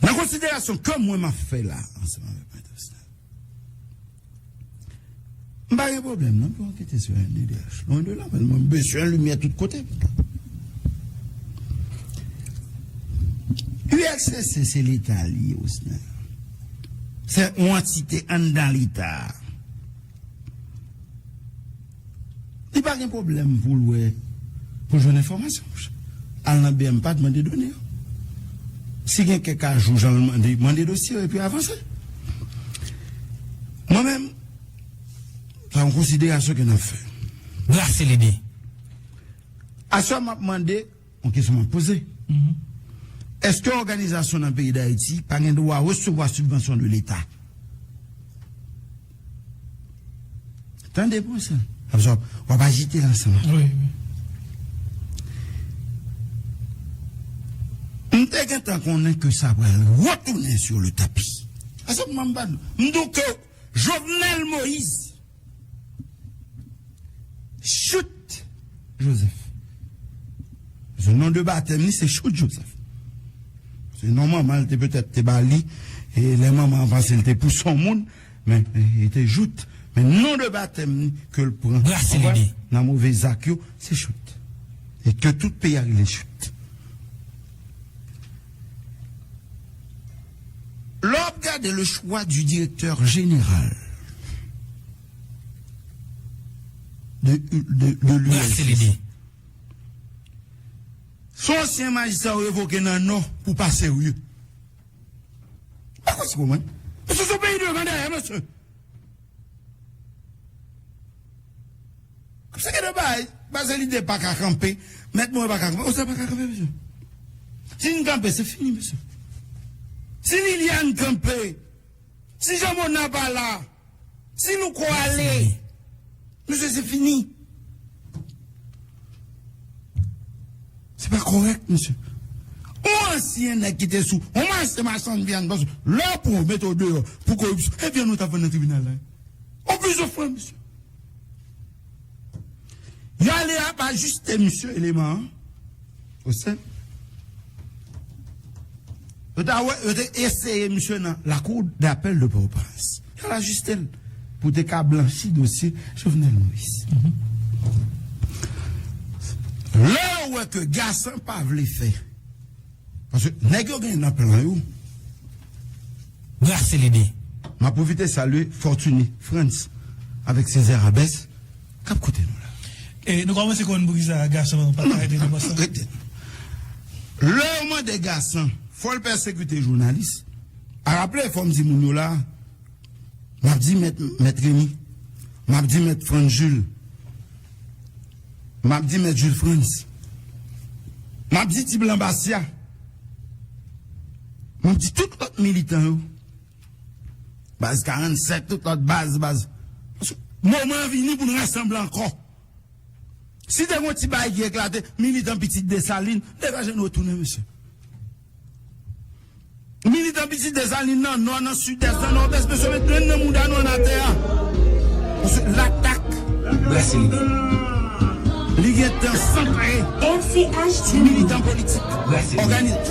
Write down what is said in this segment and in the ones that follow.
Nan konsiderasyon ke mwen map fè la ansanm avèk Maîtresse la, m pa gen pwoblèm non pou yo ankete sou MNDH, lwen de la, men mwen bezwen limyè tout kote. ULCC se leta li ye Osner. Se yon antite anndan leta a. Li pa gen pwoblèm pou l wè, pou l jwenn enfòmasyon pou chak. Al nan BMPAD mande done yo. Si gen kèk ajou jan l mande, mande dosye yo epi avanse. Mwen menm, sa yon konsiderasyon ke n ap fè. Brase lide. Aswè m ap mande. Yon kesyon m ap poze, èske òganizasyon nan peyi Dayiti pa gen dwa resevwa sibvansyon de Leta? Tande pou sa, paske w ap ajite l ansanm ak mwen. M te gentan konnen ke sa pral retounen sou le tapi. Ase m ban m ban nou. M douke w. Jovenel Moise Chout Joseph Ze non de batèm li se Chout Joseph Se non manman l te petèt te ba li e lè manman an panse l te pou son moun men li te Jout men non de batèm li ke l pran nan move zak yo se Chout e ke tout peyi a rele Chout. Lè w ap gade le choix du directeur général de l'ULCC, se yon ansyen majistra yo revoke nan Nò pou pa serye. M pa kwè se pou mwen. Mesye se yon peyi devan dèyè mesye. Se gen de bagay bazelide paka kanpe mèt morin paka kanpe oser paka kanpe mesye si nou kanpe se fini mesye si liliane kanpe si jean mona pa la si louko ale Mesye se fini. Se pa korèk mesye. On ansyen nèg ki te sou on mache machann vyann paske lè yo pran w mete w deyò pou koripsyon e vyann ou t ap vann nan tribinal la? On pizon fran mesye. Yo ale a pa jiste misye eleman an. Ou senp. Yo ta wè, yo te eseye misye nan lakou dapèl de Pòtoprens. Yo al ajiste l pou te ka blanchi dosye Jovenel Moïse. Lè yo wè ke Gassant pa vle fè, paske nèg yo gen nan plan yo, brase lide. M ap pwofite salye Fortuny Frantz avèk Césaire Abès. k ap koute nou la. E nou kòmanse konn poukisa gason pa ka rete nan pòs la. Rete. Lè yo mande Gasan fò l pèsekite jounalis, a raple fò m di moun yo la, m ap di mèt Mèt Remi, m ap di mèt Frantz Jules, m ap di mèt Jules Frantz, m ap di ti blan Basya, m ap di tout lòt militan yo. Baz 47 tout lòt baz baz Moman an vini pou n rasanble ankò Si te gen yon ti bagay ki eklate Militan pitit Desalin degaje nou retounen mesye Militan pitit Desalin nan nò nan sidès nan nòdès mesye met grenn nan mouda nou an atè a Paske latak brase lide Li gen tan san pare Ti militan politik òganize.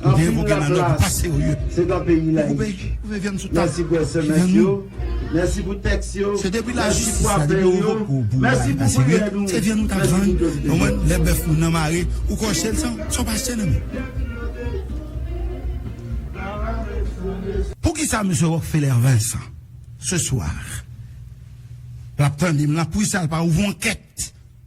Ou te evoke nan nòt ou pa serye. Ou koupe vyann sou tab kiliyan nou. Se depi lajistis la, depi yo revoke ou pou ou pa serye, se vyann ou t ap vann, ou konprann, lè bèf ou nan mare, ou kòche l san w pa achte nan men. Poukisa Mesye Rockfeller Vincent, ce soir, l ap tande m la, poukisa l pa ouvri yon ankèt?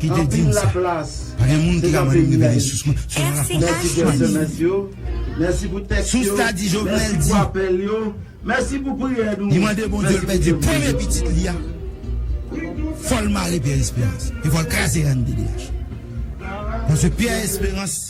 ki te di m sa pa gen moun ki ka mande m leve de sous mwen sou la fòs mani sous la di jovenel di li mande bondye l pèdi premye pitit li a fòl mare pierre esperans e fòl kraze rnddh paske pierre esperans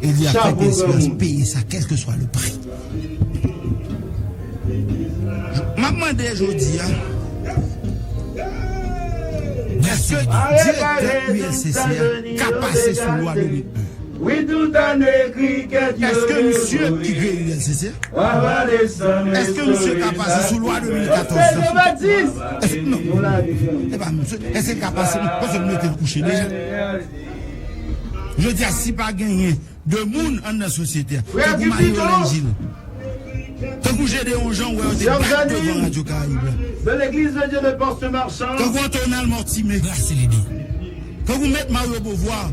E li ap fè ke esperans peye sa kelke swa le pri. M ap mande jodi a, eske direktè ULCC a ka pase sou lwa Dominique Bert? Eske misye ki kreye ULCC a, eske misye ka pase sou lwa 2014 la? Eske l ka pase, paske l mete l kouche deja. Jodi a si pa genyen 2 moun anndan sosyete a tankou Mario Langil, tankou Gedeon Jean ou wè yo te bat devan Radio Caraïbe la, tankou Antonal Mortimé, tankou Mèt Mario Beauvoir,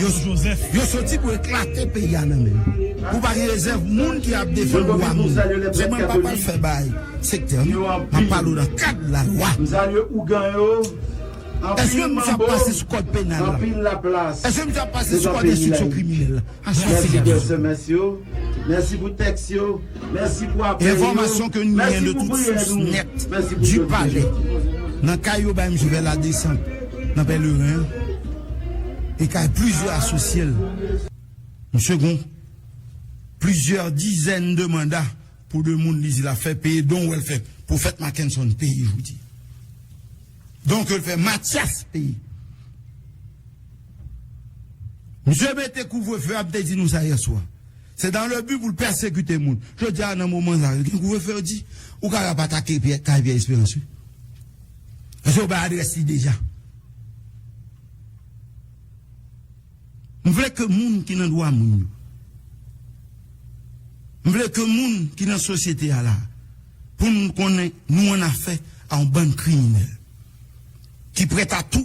yo soti pou eklate peyi a nan men yo. Pou pa gen rezèv moun ki ap defann dwa moun. Sèlman m pa pral fè bay sektè m, m ap pale w nan kad lalwa. Eske moun sa ap pase sou kòd penal la? Eske moun sa ap pase sou kòd enstriksyon kriminèl la? Asasinay Jovenel. Enfòmasyon ke nou gen de tout sous nèt du palè nan kay yo bay misye fè ladesant nan Pèleren an e kay plizyè asosye l. Misye gen plizyè dizèn de manda pou de moun li di l ap fè peye don wè l fè Pwofèt Makenson peye jodi. Donk yo fè matyas peyi. Misye mete kouvrefe a m te di nou sa yèswa. Se dan le bi pou l pèsekite moun. Jodi a nan moman sa yo gen kouvrefe yo di ou ka ap atake kay Pyè Esperans wi. Paske yo bay adrès li deja. M vle ke moun ki nan dwa moun yo. M vle ke moun ki nan sosyete a la a, pou n konnen nou an afè a yon bann kriminèl ki prèt a tou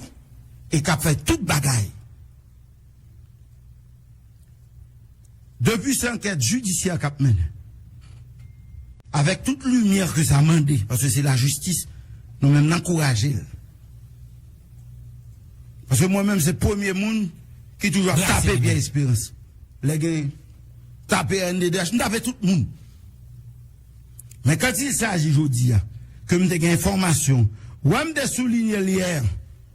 e k ap fè tout bagay. Depi se ankèt jidisyè kap mennen avèk tout limyè ke sa mande paske se lajistis nou menm n ankouraje l paske mwen menm se premye moun ki toujou ap tape Pierre Espérance lè gen tape rnddh m tape tout moun men kan t il saji jodi a ke m te gen enfòmasyon wè m te soulinye l yè